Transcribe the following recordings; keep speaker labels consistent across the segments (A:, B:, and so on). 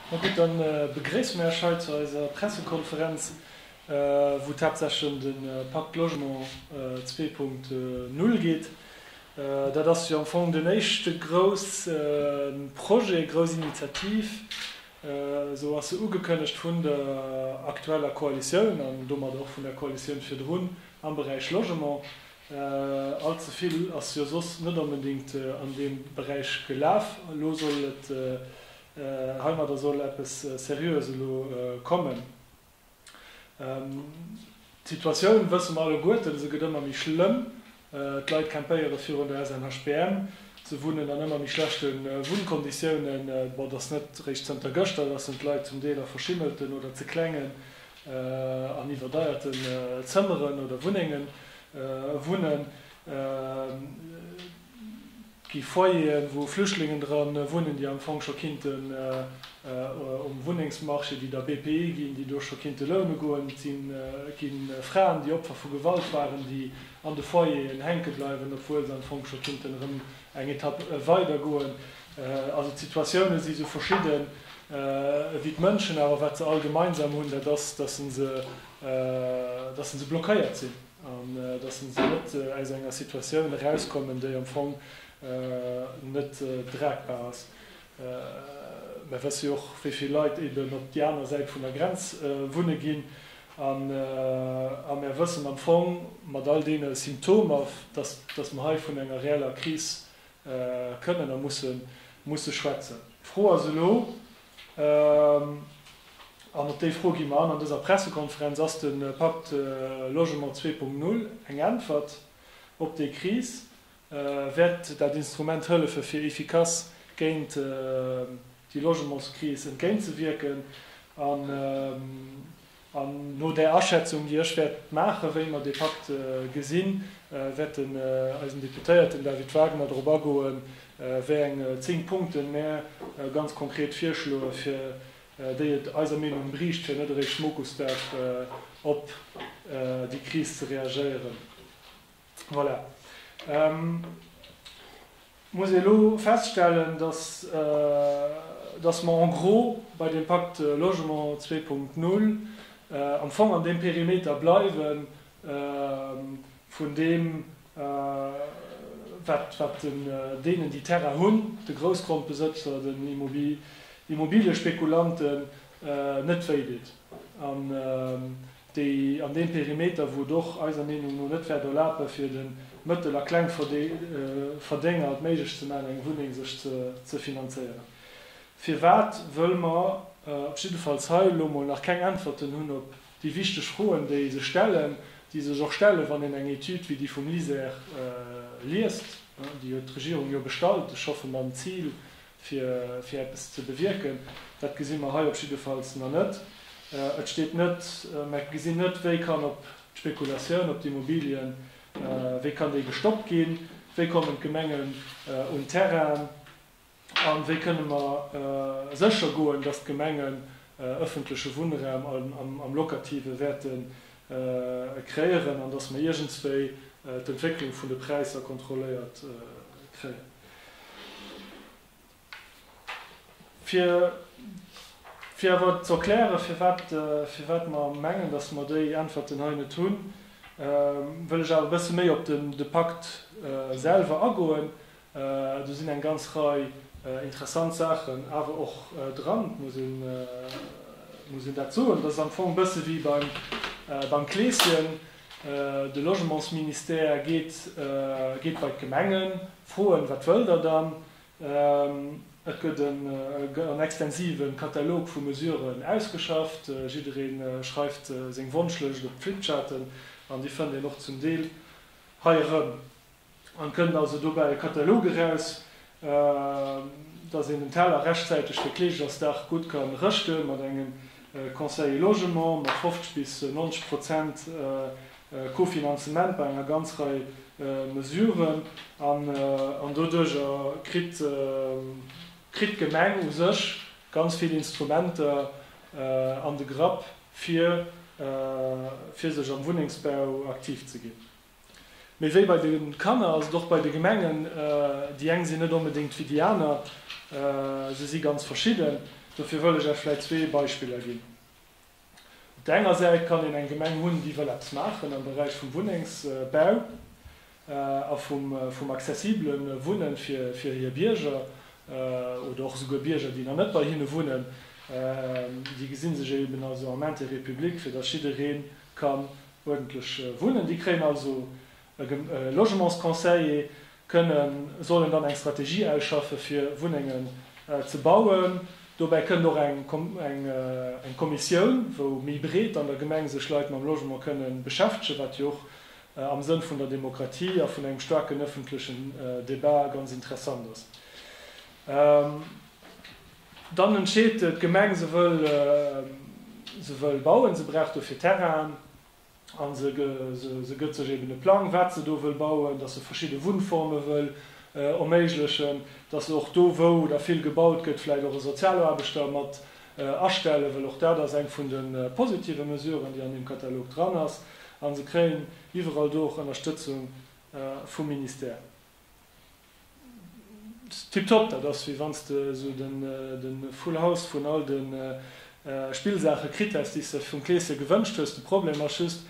A: Ma gutt, da begréisse mer Iech hei zu eiser Pressekonferenz, wou et haaptsächlech ëm de Pacte Logement 2.0 geet. Dat ass jo am Fong den éischte grousse Projet, grouss Initiativ, esou ass se ugekënnegt vun der aktueller Koalitioun an domat och vun der Koalitioun virdrun, am Beräich Logement. All ze vill ass jo soss net onbedéngt an deem Beräich gelaf. Elo soll et Heimadder soll eppes Seriöes elo kommen. D'Situatioun wësse mer alleguerten, se gëtt ëmmer méi schlëmm. D'Leit campéiere virun der SNHBM, se wunnen an ëmmer méi schlechte Wunnkonditiounen. Bon, et ass net réischt zënter gëschter, dass en d'Leit zum Deel a verschimmelten oder ze klengen an iwwerdeierten Zëmmeren oder Wunnenge wunnen. gi Foyeren, wou Flüchtlingen dra wunnen, déi am Fong scho kinnte um Wunnengsmarché, déi der BPI ginn, déi do scho kinnte loune goen. Et gi Fraen, déi Opfer vu Gewalt waren, déi an de Foyeren hänke bleiwen, obwuel se am Fong scho kinnten erëm eng Etapp weider goen. Also d'Situatiounen si sou verschidden wéi d'Mënschen, awer wat se all gemeinsam hunn, dat ass, dass se blockéiert sinn. An dass se net aus enger Situatioun erauskommen, déi am Fong net dragbar ass. Mer wësse jo och, wéi vill Leit eeben op déi aner Säit vun der Grenz wunne ginn. A mer wëssen am Fong, mat all deene Symptomer, dass mer hei vun enger reeller Kris kënnen a musse schwätzen. D'Fro ass elo, An op déi Fro gi mer an an dëser Pressekonferenz. Ass de Pacte Logement 2.0 eng Äntwert op déi Kris? Wäert dat Instrument hëllefe fir efficace géint déi Logementskris entgéintzewierken? An no där Aschätzung, déi ech wäert maachen, wéi mer dee Pakt gesinn, wäert den eisen Deputéierten David Wagner drop agoen, wéi eng zéng Punkten mär ganz konkret virschloen, fir déi et eiser Meenung briicht, fir net eréischt Mokusdag op déi Kris ze reagéieren. Voilà. Muss ee lo feststellen, dass, dass mer en gros bei deem Pacte Logement 2.0 am Fong an deem Perimeter bleiwe vun deem, wat, wat den, deenen, déi Terrain hunn, de Groussgrondbesëtzer, den Immobiliespekulanten net wéi deet. An déi an deem Perimeter, wou et och eiser Meenung no net wäert erlape fir de Mëttel a Klengverdénger et méiglech ze maachen, eng Wunneng sech ze finanzéieren. Firwat? Wëll mer op jiddefalls hei elo mol nach keng Äntwerten hunn op déi wichteg Froen, déi sech stellen, déi sech och stellen, wann een eng Etüd wéi déi vum LISER liest, déi huet d'Regierung jo bestallt, ech hoffe mam Zil, fir eppes ze bewierken, dat gesi mer hei op jiddefalls nach net. Et steet net, mer gesinn net, wéi kann op d'Spekulatioun op d'Immobilien, wéi kann déi gestoppt ginn, wéi kommen d'Gemengen un Terrainen a wéi kënne mer sécher goen, datt d'Gemengen ëffentleche Wunnraum am Locative wäerte kreéieren an datt mer iergendswéi d'Entwécklung vun de Präisser kontrolléiert kréien. Fir awer ze erklären, firwat mer mengen, datt mer déi Äntwerten hei net hunn, wëll ech awer e bësse méi op de Pakt selwer agoen. Do sinn eng ganz Rei interessant Saachen awer och dran, muss een dat soen. Dat ass am Fong e bësse wéi beim Kleeschen. De Logementsministère geet geet bei d'Gemengen froen, wat wëllt der dann? Et gëtt en extensive Katalog vu Mesuren ausgeschafft, jidderee schreift seng Wonschlëscht op d'Flipcharten an déi fënnt een och zum Deel hei erëm. an kënnt also dobäi e Katalog eraus, dass een den Teller rechtzäiteg fir Kleeschtersdag gutt kann rëschten, mat engem Conseiller Logement, mat 50 bis 90 Prozent Kofinanzement bei enger ganz Rei Mesuren, an doduercher kritt d'Gemeng u sech ganz vill Instrumenter an de Grapp fir sech am Wunnengsbau aktiv ze ginn. Mee wéi bei de Kanner ass et och bei de Gemengen, déi eng sinn net onbedéngt wéi déi aner, se si ganz verschidden. Dofir wëll ech Iech vläicht zwee Beispiller ginn. Op der enger Säit kann een eng Gemeng hunn, déi wëll eppes maachen am Beräich vum Wunnengsbau a vum accessibele Wunne fir hir Bierger oder och esouguer Bierger, déi nach net bei hinne wunnen. Déi gesi sech eeben also am Intérêt public, fir datt jidderee ka uerdentlech wunnen. Déi kréien also e Logementsconseiller, kënnen, sollen dann eng Strategie ausschaffe fir Wunnengen ze bauen. Dobäi kënnt och eng Kommissioun, wou méi breet an der Gemeng sech Leit mam Logement kënne beschäftegen, wat jo och am Sënn vun der Demokratie a vun engem staarken ëffentlechen Debat ganz interessant ass. Dann entscheet d'Gemeng, se wëll se wëll bauen, se brauch dofir Terrainen a se se gëtt sech eben e Plang, wat se do wëll bauen, dass se verschidde Wunnforme wëll erméiglechen, dass se och do, wou da vill gebaut gëtt, vläicht och e Sozialaarbechter mat astellen wëll. Och dat ass eng vun de positive Mesuren, déi an deem Katalog dran ass. A se kréien iwwerall do och Ënnerstëtzung vum Ministère. Tiptop, dat ass wéi wanns de sou de full house vun all de Spillsaache kritt häss déis de vum Kleeschen gewënscht hues. De Problem ass just,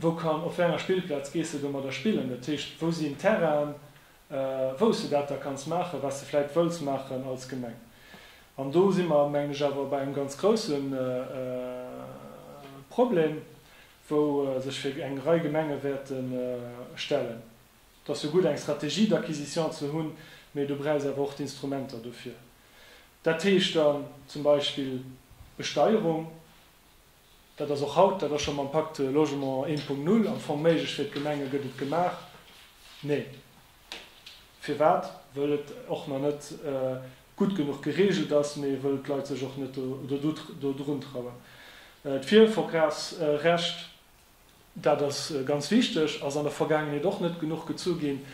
A: wou kann, op wéi enger Spillplaz gees de domadder spillen? Dat heescht, wou sinn Terrainen wou's de dat da kanns maachen, wat s de vläit wëlls maachen als Gemeng? An do si mer mengen ech awer bei engem ganz grousse Problem, wou sech fir eng Rei Gemenge wäerte stellen. Et ass jo gutt, eng Stratégie d'acquisition ze hunn, mee du brauchs awer och d'Instrumenter dofir. Dat heescht dann zum Beispill Besteierung. Dat ass och haut, dat ass scho mam Pacte Logement 1.0 am Fong méiglech fir d'Gemenge. Gëtt et gemaach? Nee. Firwat? Wëll et och nach net gutt genuch gereegelt ass, mee wëll d'Leit sech och net dodrun trauen. D'Virverkafsrecht dat ass ganz wichteg, ass an der Vergaangenheet och net genuch gezu ginn.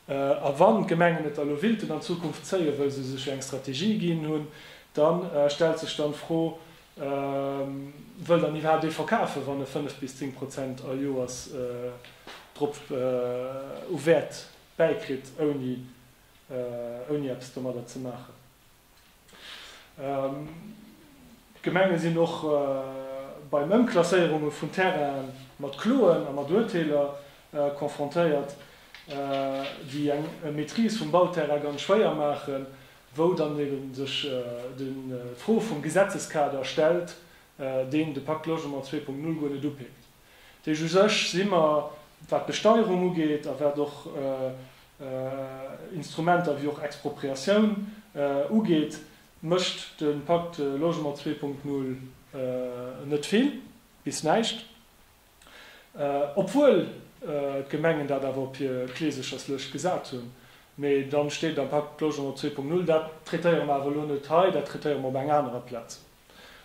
A: A wann d'Gemengen et da lo willten an Zukunft zéien, wëll se sech jo eng Strategie ginn hunn, da stellt sech dann d'Fro, Wëll dann iwwerhaapt ee verkafen, wann e fënnef bis zéng Prozent all Joers drop u Wäert bäikritt, ouni eppes domadder ze maachen? D'Gemenge sinn och bei Ëmklasséierunge vun Terraine mat Kloen a mat Urteeler confrontéiert, déi eng Maîtrise vum Bauterrain ganz schwéier maachen, wou dann ebe sech d'Fro vum Gesetzeskader stellt, deen de Pacte Logement 2.0 guer net upickt. Deeg u sech si mer, wat d'Besteierung ugeet a wat och Instrumenter wéi och Expropriatioun ugeet, mécht de Pacte Logement 2.0 net vill bis näischt, obwuel d'Gemengen dat awer op hir Kleesecherslëscht gesat hunn. Mee dann steet am Pacte Logement 2.0, dat traitéiere mer awer elo net hei, dat traitéiere mer op enger anerer Plaz.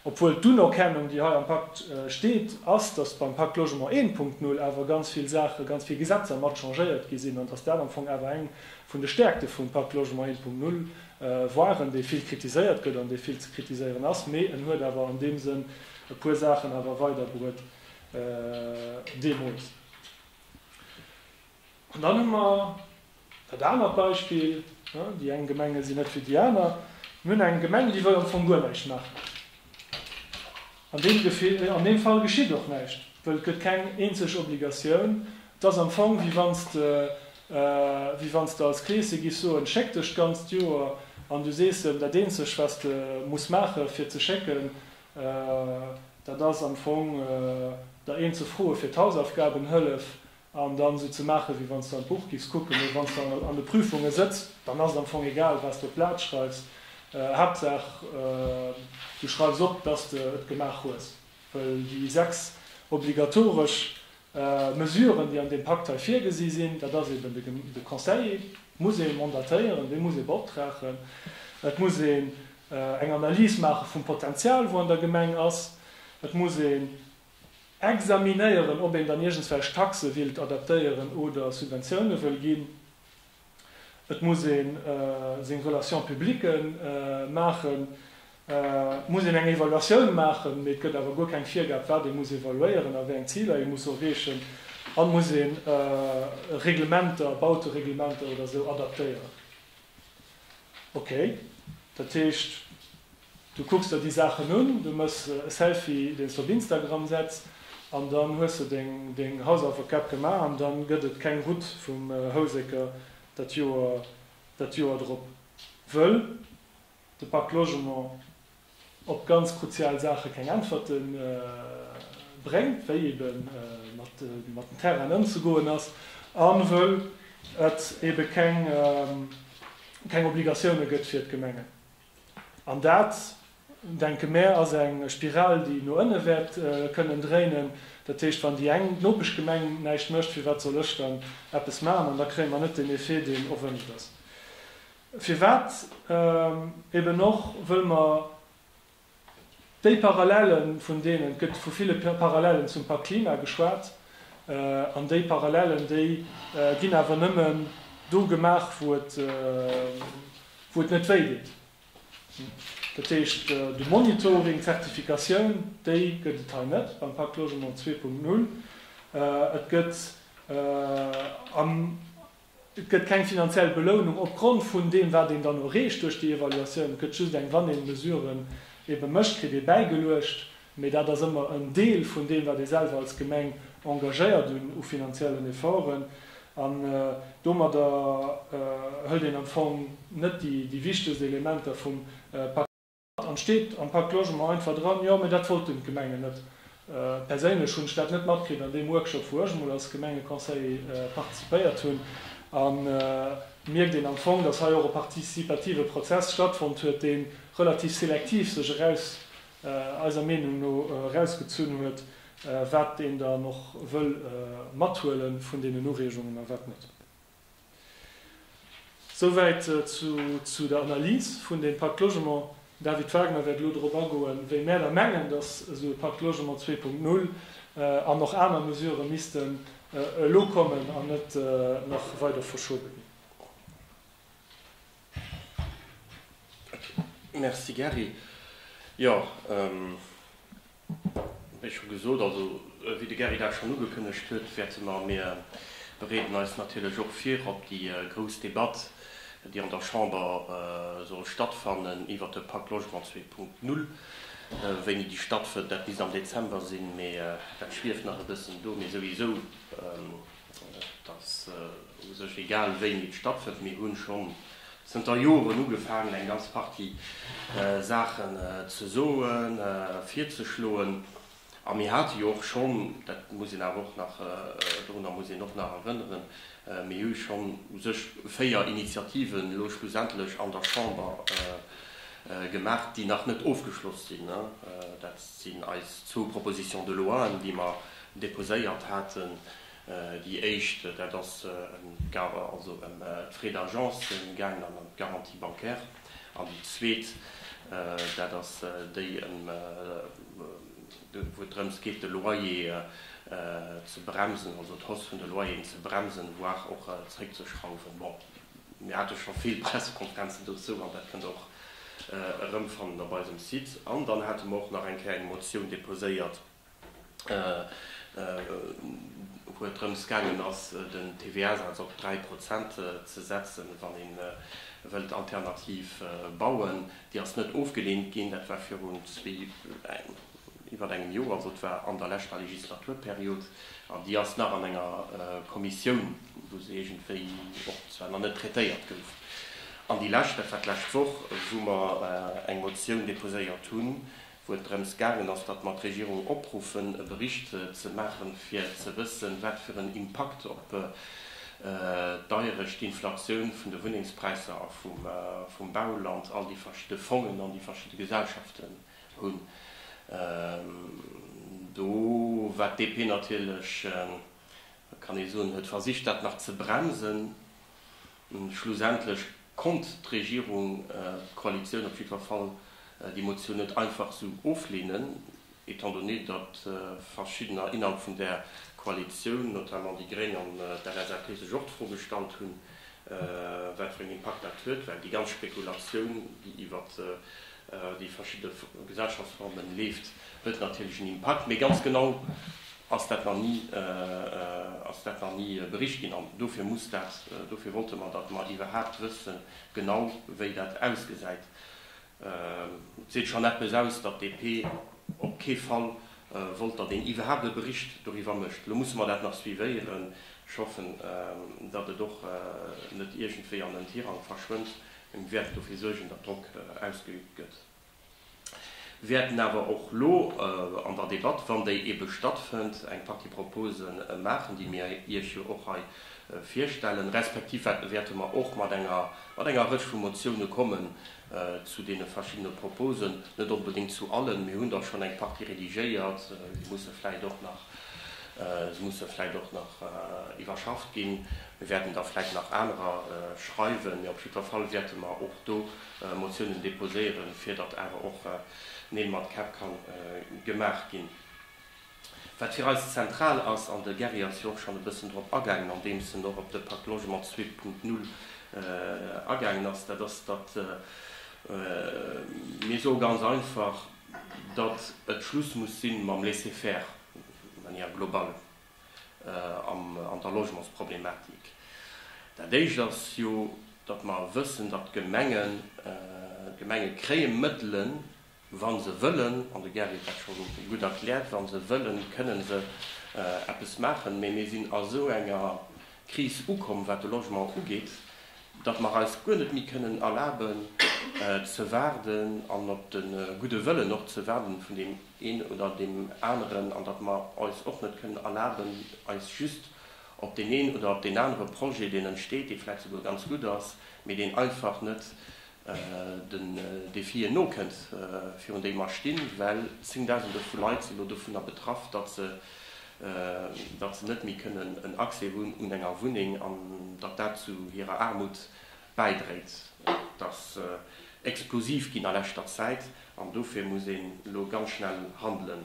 A: Obwuel d'Unerkennung, déi hei am Pakt steet, ass, dass beim Pakt Logement 1.0 awer ganz vill Saache, ganz vill Gesetzer mat changéiert gi sinn an dass dat am Fong awer eng vun de Stärkte vum Pakt Logement 1.0 waren, dee vill kritiséiert gëtt an dee vill ze kritiséieren ass, mee en huet awer an deem Sënn e puer Saachen awer weiderbruet deemools. An dann hu mer. Dat anert Beispill, Déi eng Gemenge sinn net wéi déi aner. Mir hunn eng Gemeng, déi wëll am Fong guer näischt maachen. An deem Gefill, an deem Fall geschitt och näischt, wëll et gëtt keng eenzeg Obligatioun. Et ass am Fong, wéi wann s de, wéi wann s de als Kleeschen giffs soen, schéck dech d'ganzt Joer an du sees em, dat eenzeg, wat s de muss maachen, fir ze schécken, dat ass am Fong der een ze froen, fir d'Hausaufgabenhëllef An dann esou ze maachen, wéi wann s de an d'Buch giffs kucken, mee wann s de an de Prüfunge sëtz, dann ass et am Fong egal, wat s de op d'Blat schreifs, Haaptsaach du schreifs op, dass s de et gemaach hues. Well déi sechs obligatoresch Mesuren, déi an deem Pakt hei virgesi sinn, dat ass eben, de Conseiller muss ee mandatéieren, dee muss ee beoptragen, et muss een eng Analys maache vum Potenzial, wou an der Gemeng ass, et muss een examinéieren, ob een dann iergendswelch Taxe willt adaptéieren oder Subventioune wëll ginn. Et muss ee seng Relations publiques maachen, et muss een eng Evaluatioun maachen, mee et gëtt awer guer keng Virgab, wat ee muss evaluéieren a wéi eng Ziler ee muss erreechen. An et muss ee Reglementer, Bautereglementer oder esou adaptéieren. Ok, dat heescht du kucks der déi Saachen un, du mëss e Selfie deen s de op Instagram setz an dann hues de deng Hausaufekab gemaach an dann gëtt et keng Route vum Houseker dat Joer drop wëll de Pacte Logement op ganz kruzial Saache keng Äntwerte bréngt, wéi ebe mat den Terrainen ëmzegoen ass, a wëll et ebe keng Obligatioune gëtt fir d'Gemengen. An dat, denke mär, ass eng Spiral, déi no ënne wäert kënnen dréinen. Dat heescht, wann déi eng, d'Nopeschgemeng, näischt mécht, firwat soll ech dann eppes maachen? An da kréie mer net den Effet, deen erwënscht ass. Firwat eben och? Wëll mer déi Parallellen, vun deenen, et gëtt vu ville Parallellen zum Pakt Klima geschwat, an déi Parallellen, déi ginn awer nëmmen do gemaach, wou et, wou et net wéi deet. Dat heescht, de Monitoring, d'Zertifikatioun, déi gëtt et hei net beim Pakt Logement zwee Punkt null. Et gëtt am Et gëtt keng finanziell Belounung opgrond vun deem, wat een dann erreecht duerch déi Evaluatioun. Et gëtt just eng, wann ee Mesuren ebe mécht, kritt ee bäigeluecht, mee dat ass ëmmer en Deel vun deem, wat ee selwer als Gemeng engagéiert un u finanziellen Efforten. An domadder hëlt een am Fong net déi wichtegst Elementer vum Pak. An steet am Pacte Logement einfach dran. Jo, mee dat wollten d'Gemengen net. Perséinlech hunn ech dat net matkritt an deem Workshop, wou ech emol als Gemengeconseiller participéiert hunn. Et mierkt een am Fong, dass hei och e participative Prozess stattfonnt huet, dee relativ selektiv sech eraus, eiser Meenung no, erausgezunn huet, wat een dann och wëll mathuele vun deenen Ureegungen a wat net. Souwäit zu der Analys vun deem Pacte Logement. David Wagner wäert elo dorop agoen, wéi mär da mengen, datt esou e Pacte Logement zwee Punkt null an och aner Mesurë missten elo kommen an net nach weider verschobe ginn.
B: Merci Gary. Jo. Wéi scho gesot, also wéi de Gary dat schonn ugekënnegt huet, wäerte mer, mir bereeden eis natierlech och vir op déi grouss Debatt, déi an der Chamber soll stattfannen iwwert de Pak Logement zwee Punkt null. Wéini déi stattfënnt, dat misst am Dezember sinn, mee dat schwieft nach e bëssen do. Mee souwisou. Et ass u sech egal, wéini et stattfënnt. Mir hu scho zënter Joren ugefaangen, eng ganz Partie Saachen ze soen, virzeschloen. A mir hate jo och schonn, dat muss een awer och nach, dorunner muss een och nach erënneren, mir hu schonn u sech véier Initiativen elo schlussendlech an der Chamber gemaach, déi nach net ofgeschloss sinn. Dat sinn eis zwou Propositions de loien, déi mer Deposéiert haten déi éischt, dat ass also ëm d'Frais d'agence gaangen an ëm d'Garantie bancaire, an déi zweet, dat ass déi ëm, wou et drëms geet de Loyer ze bremsen, also d'Hausse vun de Loyeren ze bremsen, voire och zréckzeschrauwen. Bon, mir hate scho vill Pressekonferenzen dozou an dat kënnt och erëmfannen op eisem Site. An dann hate mer och nach eng Kéier eng Motioun deposéiert, wou et drëms gaangen ass, den TVA-Saz op 3 Prozent ze setzen, wann ee wëllt alternativ bauen. Déi ass net ofgeleent ginn. Dat war virun iwwert engem Joer, also et war an der leschter Legislaturperiod. An déi ass nach an enger Kommissioun, wou se iergendwéi och zwar nach net traitéiert gouf. An déi lescht, dat war d'lescht Woch, wou mer eng Motioun deposéiert hunn, wou et drëms gaangen ass, datt mer d'Regierung opruffen, e Bericht ze maachen, fir ze wëssen, wat fir en Impakt op d'Deierecht, d'Inflatioun vun de Wunnengspräisser a vum Bauland all déi verschidde Fongen an déi verschidde Gesellschaften hunn. Do war d'DP natierlech, kann ee soen, huet versicht, dat nach ze bremsen. Schlussendlech konnt d'Regierung, d'Koalitioun op jiddwer Fall, déi Motioun net einfach esou oflehnen, étant donné, datt Verschiddener innerhalb vun där Koalitioun, notamment déi Gréng an d'LSAP, sech och d'Fro gestallt hunn, wat fir en Impakt dat huet, well déi ganz Spekulatioun, déi iwwert déi verschidde Gesellschaftsformen leeft, huet natierlech en Impakt, mee ganz genau ass dat nach ni, ass dat nach ni bericht ginn an dofir muss dat, dofir wollte mer, datt mer iwwerhaapt wëssen genau wéi dat ausgesäit. Et seet schonn eppes aus, datt DP op kee Fall wollt, datt een iwwerhaapt e Bericht doriwwer mécht. Elo musse mer dat nach suivéieren. Ech hoffen, datt et och net iergendwéi an den Tirang verschwënnt, Mir wäerten dofir suergen, datt Drock ausgeüübt gëtt. Mir wäerten awer och elo an der Debatt, wann déi ebe stattfënnt, eng Partie Propose maachen, déi mir Iech jo och hei virstellen, respektiv wäerte mer och mat enger Rëtsch vu Motioune kommen zu deene verschiddene Proposen, net onbedéngt zu allen. Mir hunn der schonn eng Partie redigéiert, déi musse vläicht och nach. Se musse vläit och nach iwwerschafft ginn. Mir wäerten da vläit nach anerer schreiwen, mee op jiddwer Fall wäerte mer och do Motiounen déposéieren, fir datt awer och Neel mat Käpp ka gemaach ginn. Wat fir eis zentral ass, an de Gary ass jo och schonn e bëssen drop agaangen, andeems en och op de Pacte Logement 2.0 agaangen ass, dat ass, datt mir soe ganz einfach, datt et Schluss muss si mam Laisser-faire d'une manière globale an der Logementsproblematik. Dat Éischt ass jo, datt mer wëssen, datt d'Gemengen, d'Gemenge kréie Mëttelen, wa se wëllen, an de Gary huet dat scho gutt erkläert, wa se wëllen, kënne se eppes maachen, mä mir sinn a sou enger Kris ukomm, wat de Logement ugeet, datt mer eis guer net méi kënnen erlaben ze waarden an op de gudde Wëllen och ze waarden vun deem een oder deem aneren an datt mer eis och net kënnen erlaben, eis just op deen een oder op deen anere Projet, deen entsteet, dee vläicht souguer ganz gutt ass, mee deen einfach net den Defien nokënnt, virun déi mer stinn, well zéngdausende vu Leit sinn elo dovunner betraff, datt se, datt se net méi kënnen en Accès hunn un enger Wunneng an datt dat zu hirer Aarmut bäidréit, dass explosiv ginn a leschter Zäit. An dofir muss een elo ganz schnell handelen.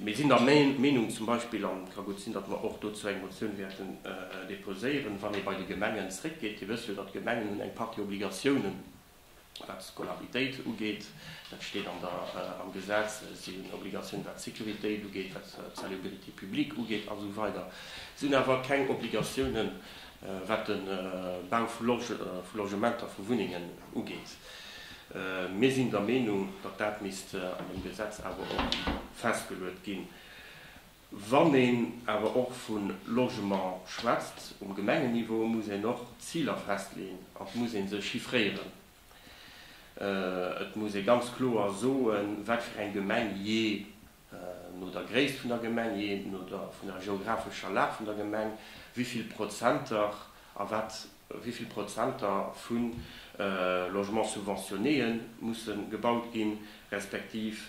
B: Mir sinn der Meenung zum Beispill, an et ka gutt sinn, datt mer och dozou eng Motioun wäerten deposéieren, wann ee bei de Gemengen zréckgeet, Dir wësst jo, datt d'Gemengen hunn eng Partie Obligatiounen, wat d'Scolaritéit ugeet, dat steet am Gesetz, si hunn Obligatiounen, wat d'Sécuritéit ugeet, wat d'Salubrité publique ugeet a sou weider. Si hunn awer keng Obligatiounen, wat de Bau vu Logementer, vu Wunnengen ugeet. Mir sinn der Meenung, datt dat misst an dem Gesetz awer och festgeluet ginn. Wann een awer och vu Logement schwätzt um Gemengenniveau, muss een och Ziler festleeën an et muss ee se chiffréieren. Et muss ee ganz kloer soen, wat fir eng Gemeng jee no der Gréisst vun der Gemeng, jee no der vun der geographescher Lag vun der Gemeng, wéi vill Prozenter a wat wéi vill Prozenter vu Logements subventionnéë musse gebaut ginn, respektiv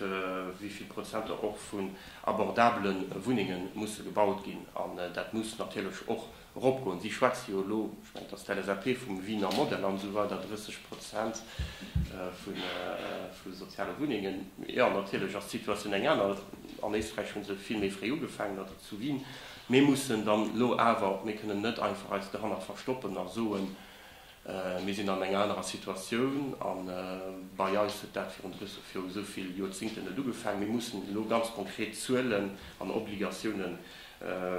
B: wéi vill Prozenter och vun abordabele Wunnenge musse gebaut ginn. An dat muss natierlech och Eropgoen. Si schwätze jo elo, ech mengen, et ass d'LSAP, vum Wiener Modell an esou weider, 30 Prozent vu soziale Wunnengen. Jo, natierlech ass d'Situatioun eng aner. An Éisträich hu se vill méi fréi ugefaangen, dat ze ginn. Mir mussen dann elo awer, mir kënnen net einfach eis dohannert verstoppen a soen, Mir sinn an enger anerer Situatioun a bei eis huet dat virun esou vill Joerzingten net ugefaangen. Mir mussen elo ganz konkret Zuelen an Obligatioune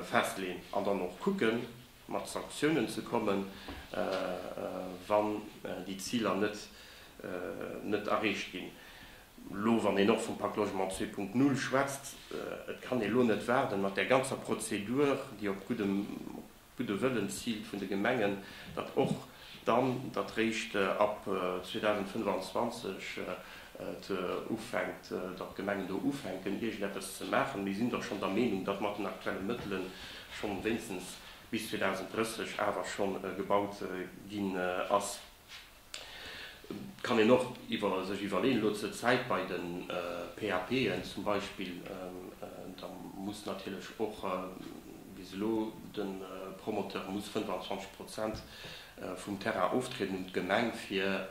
B: festleeën an dann och kucke mat Sanktiounen ze kommen, wann déi Ziler net erreecht ginn. Elo wann een och vum Pacte Logement 2.0 schwätzt, et kann ee elo net waarden mat där ganzer Prozedur, déi op gutt gudde Wëllens ziilt vun de Gemengen, datt och dann, datt réischt ab 2025 et ufänkt, datt d'Gemengen do ufänken iergendeppes ze maachen. Mir sinn da schonn der Meenung, datt mat den aktuelle Mëttele schonn wéinstens bis 2030 awer schonn gebaut ginn ass. Kann een och iwwer sech iwwerleeën elo zur Zäit bei de PAPen zum Beispill, da muss natierlech och, wéi se elo, de Promoteur muss 25 Prozent vum Terrain oftrieden un d'Gemeng fir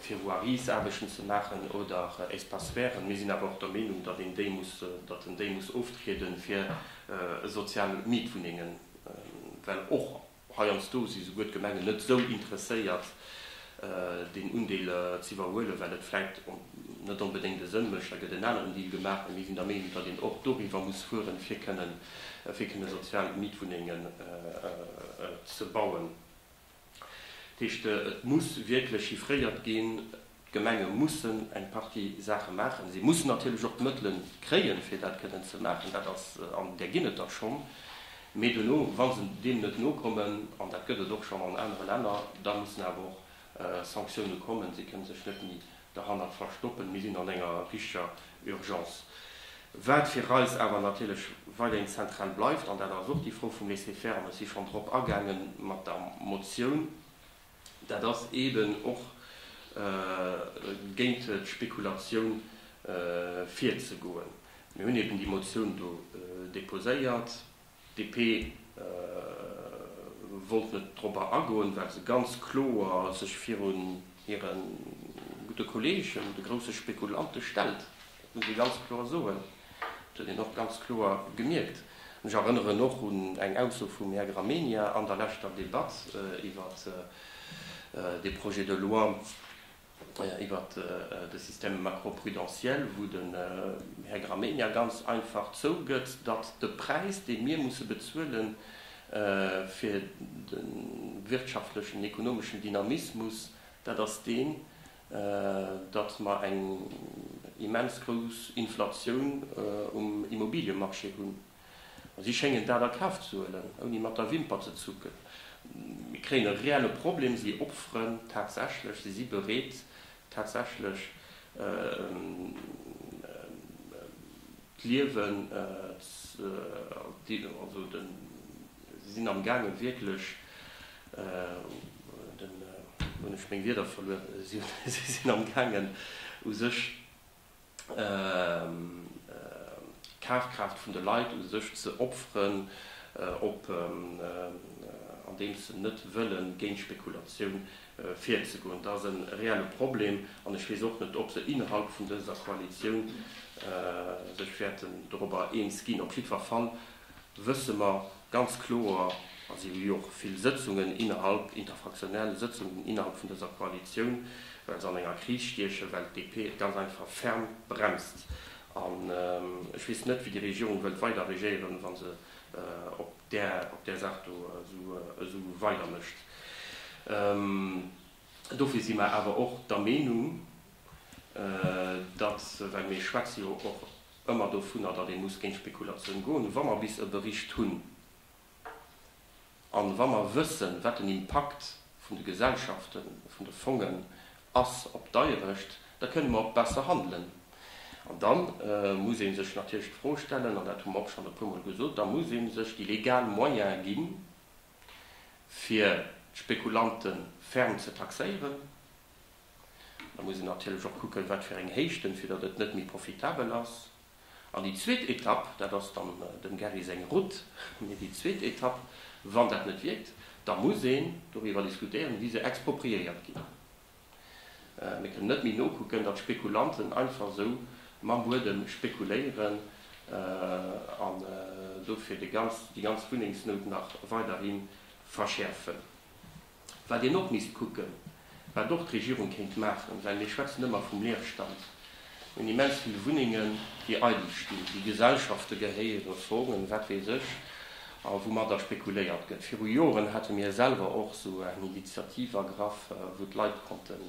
B: fir Voiriesaarbechten ze maachen oder Espaces verts. Mir sinn awer och der Meenung, datt een déi muss, datt en déi muss oftrieden fir sozial Mietwunnengen, well och Heiansdo si souguer d'Gemengen net esou interesséiert, deen Undeel z'iwwerhuelen, well et vläit net onbedéngt e Sënn mécht. Da gëtt en aneren Deal gemaach. Mee mir sinn der Meenung, datt een och doriwwer muss fueren, fir kënnen sozial Mietwunnengen ze bauen. Dat heescht, et muss wierklech chiffréiert ginn. D'Gemenge mussen eng Partie Saache maachen. Si mussen natierlech och d'Mëttele kréien, fir dat kënnen ze maachen. Dat ass, an där ginn et der schonn. Mee duerno, wa se deem net nokommen, an dat gëtt et och schonn an anere Länner, da mussen awer och Sanktioune kommen. Si kënne sech net méi derhannert verstoppen. Mir sinn an enger richteger Urgence. Wat fir eis awer natierlech weiderhin zentral bleift, an dat ass och déi Fro vum Laisser-faire, an ech si schonn drop agaangen mat der Motioun, Dat ass eeben och géint d'Spekulatioun virzegoen. Mir hunn eeben déi Motioun do deposéiert. D'DP wollt net dorobber agoen, well se ganz kloer sech virun hire gudde Kolleegen, de grousse Spekulante stellt. Dat muss ee ganz kloer soen. Dat huet een och ganz kloer gemierkt. An ech erënneren och un eng Ausso vum Här Gramegna an der leschter Debatt iwwer dee Projet de loi iwwer de Système macroprudentiel, wou den Här Gramegna ganz einfach zougëtt, datt de Präis, dee mir musse bezuele fir de wirtschaftlechen, ekonomeschen Dynamismus, dat ass deen, datt mer eng immens grouss Inflatioun um Immobiliemarché hunn. Si schéngen dat a Kaf ze huelen, ouni mat der Wimper ze zucken. Mir kréien e reelle Problem. Si opferen tatsächlech, si si bereet tatsächlech d'Liewen, si sinn amgaangen wierklech Hunn ech meng Wierder verluer? Si sinn am Gaangen u sech d'Kafkraaft vun de Leit u sech ze opferen, op andeems se net wëlle géint d'Spekulatioun virzegoen. Dat ass e reelle Problem an ech weess och net, ob se innerhalb vun dëser Koalitioun sech wäerten dorobber eens ginn. Op jiddwer Fall wësse mer ganz kloer, a si hu jo och vill Sëtzungen innerhalb, interfraktionell Sëtzungen innerhalb vun dëser Koalitioun, well se an enger Kris stiechen, well d'DP et ganz einfach ferm bremst. An ech weess net, wéi déi Regierung wëllt weider regéieren, wa se op där Saach do esou weider mécht. Dofir si mer awer och der Meenung, datt, well mir schwätze jo och ëmmer dovunner, datt ee muss géint d'Spekulatioun goen, wa mer bis e Bericht hunn a wa mer wëssen, wat den Impakt vun de Gesellschaften, vun de Fongen ass op d'Eierecht, da kënne mer och besser handelen. An da muss ee sech natierlech d'Fro stellen, an dat hu mer och schonn e puer Mol gesot, da muss ee sech déi legal Moyene ginn, fir d'Spekulanten ferm ze taxéieren. Da muss een natierlech och kucken, wat fir eng Héichten, fir datt et net méi profitabel ass. An déi zweet Etapp, dat ass dann dem Gary seng Route, mee déi zweet Etapp, wann dat net wierkt, da muss een doriwwer diskutéieren, wéi se expropriéiert ginn. Mir kënnen net méi nokucken, datt Spekulanten einfach esou mam Buedem spekuléieren an dofir déi ganz Wunnengsnout nach weiderhi verschäerfen. Wat een och misst kucken, wat och d'Regierung kéint maachen, well mir schwätzen ëmmer vum Leerstand, mir hunn immens vill Wunnengen, déi eidel stinn, déi Gesellschafte gehéieren, Fongen, wat weess ech, a woumatter spekuléiert gëtt. Viru Joren hate mir selwer och esou eng Initiativ ergraff, wou d'Leit konnten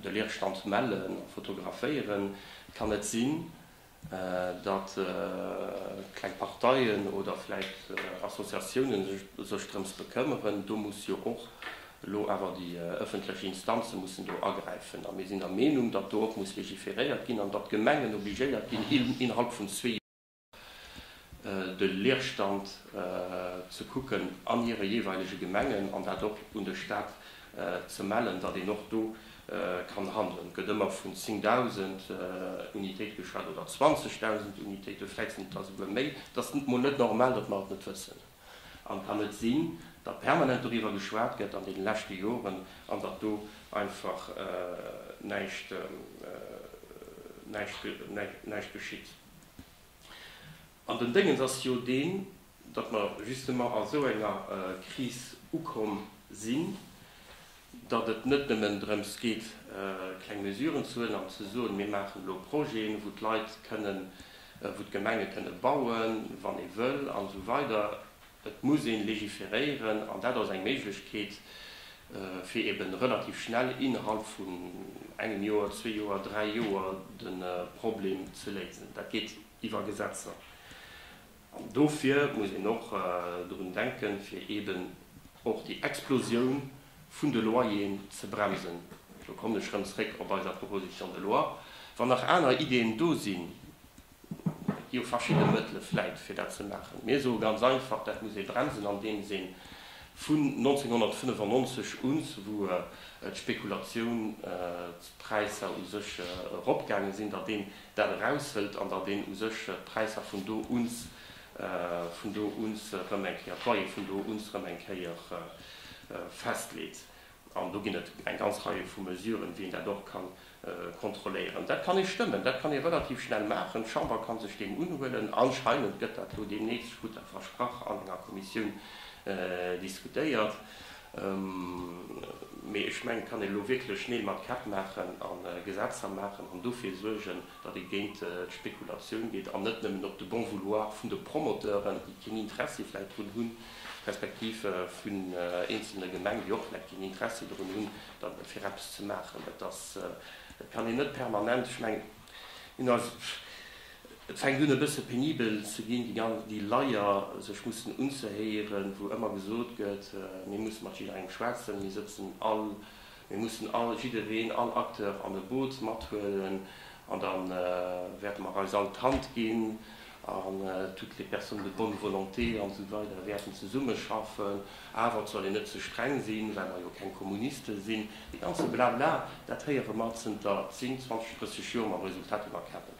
B: de Leerstand mellen a fotograféieren. Et kann net sinn, datt kleng Parteien oder vläicht Associatiounen sech drëms bekëmmeren, do muss jo och elo awer déi ëffentlech Instanze mussen do agräifen. A mir sinn der Meenung, datt do och muss legiferéiert ginn an datt d'Gemengen obligéiert ginn, innerhalb vun zwee Joer de Leerstand ze kucken an hire jeeweilege Gemengen an dat och un de Stat ze mellen, datt een och do kann handelen. Et gëtt ëmmer vun 10.000 Unitéite geschwat, oder 20.000 Unitéiten, vläicht sinn et der souguer méi. Et ass mol net normal, datt mer et net wëssen. An et kann net sinn, datt permanent doriwwer geschwat gëtt an deene leschte Joren an datt do einfach näischt geschitt. An den Déngens ass jo deen, datt mer justement a sou enger Kris ukomm sinn, datt et net nëmmen drëms geet, kleng Mesuren ze huelen an ze soen, mir maachen elo Projeten, wou d'Leit kënnen, wou d'Gemenge kënne bauen, wann ee wëll an esou weider. Et muss ee legiferéieren an dat ass eng Méiglechkeet, fir eben relativ schnell innerhalb vun engem Joer, zwee Joer, dräi Joer de Problem ze léisen. Dat geet iwwer Gesetzer. An dofir muss een och drun denken, fir eeben och déi Explosioun vun de Loyeren ze bremsen. Elo kommen ech erëm zréck op eiser Proposition de loi. Wann nach aner Ideen do sinn, et gi jo verschidde Mëttele vläit, fir dat ze maachen. Mir soe ganz einfach, dat muss ee bremsen, andeems ee vun 1995 un, wou d'Spekulatiounspräisser u sech eropgaange sinn, datt een dat eraushëlt an datt een u sech d'Präisser vun do uns, vun do uns erëm eng Kéier, d'Loyer vun do uns erëm eng Kéier festleet. An do ginn et eng ganz Reie vu Mesuren, wéi een dat och ka kontrolléieren. Dat kann ee stëmmen, dat kann ee relativ schnell maachen. D'Chamber ka sech deem unhuelen. Anscheinend gëtt dat elo deemnächst, ech krut dat versprach, an enger Kommissioun diskutéiert. Mee ech mengen, et kann een elo wierklech Neel mat Käpp maachen a Gesetzer maachen an dofir suergen, datt ee géint d'Spekulatioun geet an net nëmmen op de bon vouloir vun de Promoteuren, déi keen Interessi vläicht drun hunn, respektiv vun eenzelne Gemengen, déi och vläicht keen Interessi drun hunn, fir eppes ze maachen. Et kann een net permanent, ech mengen, Et fänkt un e bësse penibel ze ginn, déi Leier sech mussen unzehéieren, wou ëmmer gesot gëtt, mir musse mat jidderengem schwätzen, mir sëtzen all, mir mussen all, jiddereen, all Acteur an e Boot mathuelen an da wäerte mer eis all d'Hand ginn. an toutes les personnes de bonne volonté an esou weider wäerten zesummeschaffen, awer et soll een net ze streng sinn, well mer jo keng Kommuniste sinn. Dee ganze Blabla, dat héiere mer zënter 10, 20, 30 Joer mam Resultat un der Käppel.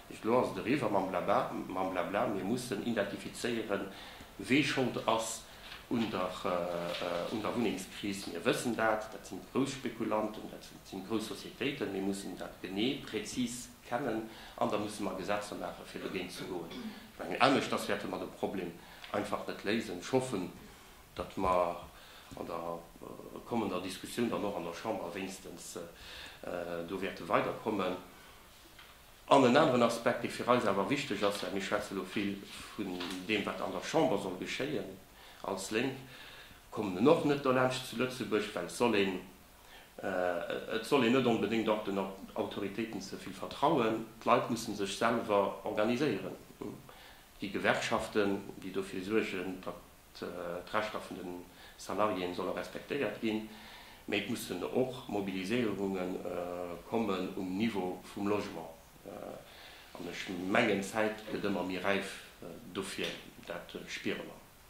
B: Mecht elo ass et eriwwer mam Blabla, mam Blabla. Mir mussen identifizéieren, wee Schold ass un der, un der Wunnengskris. Mir wëssen dat, dat sinn d'Grousspekulanten, dat sinn d'Groussociétéiten. Mir mussen dat genee, präzis kennen an da musse mer Gesetzer maache fir dogéint ze goen. Ech mengen aneschters wäerte mer de Problem einfach net léisen. Ech hoffen, datt mer an der kommender Diskussioun dann och an der Chamber wéinstens do wäerte weiderkommen. An en aneren Aspekt, dee fir eis awer wichteg ass, well mir schwätze lo vill vun deem wat an der Chamber soll geschéien, als Lénk kommen en och net dolaanscht zu Lëtzebuerg, well et soll een Et soll een net onbedéngt och den Autoritéiten ze vill vertrauen. D'Leit mussen sech selwer organiséieren, wéi Gewerkschaften, déi dofir suergen, datt d'Rechter vun de Salariéeë solle respektéiert ginn, mee et mussen och Mobiliséierunge kommen um Niveau vum Logement. An ech mengen, d'Zäit gëtt ëmmer méi räif dofir, dat spiere mer.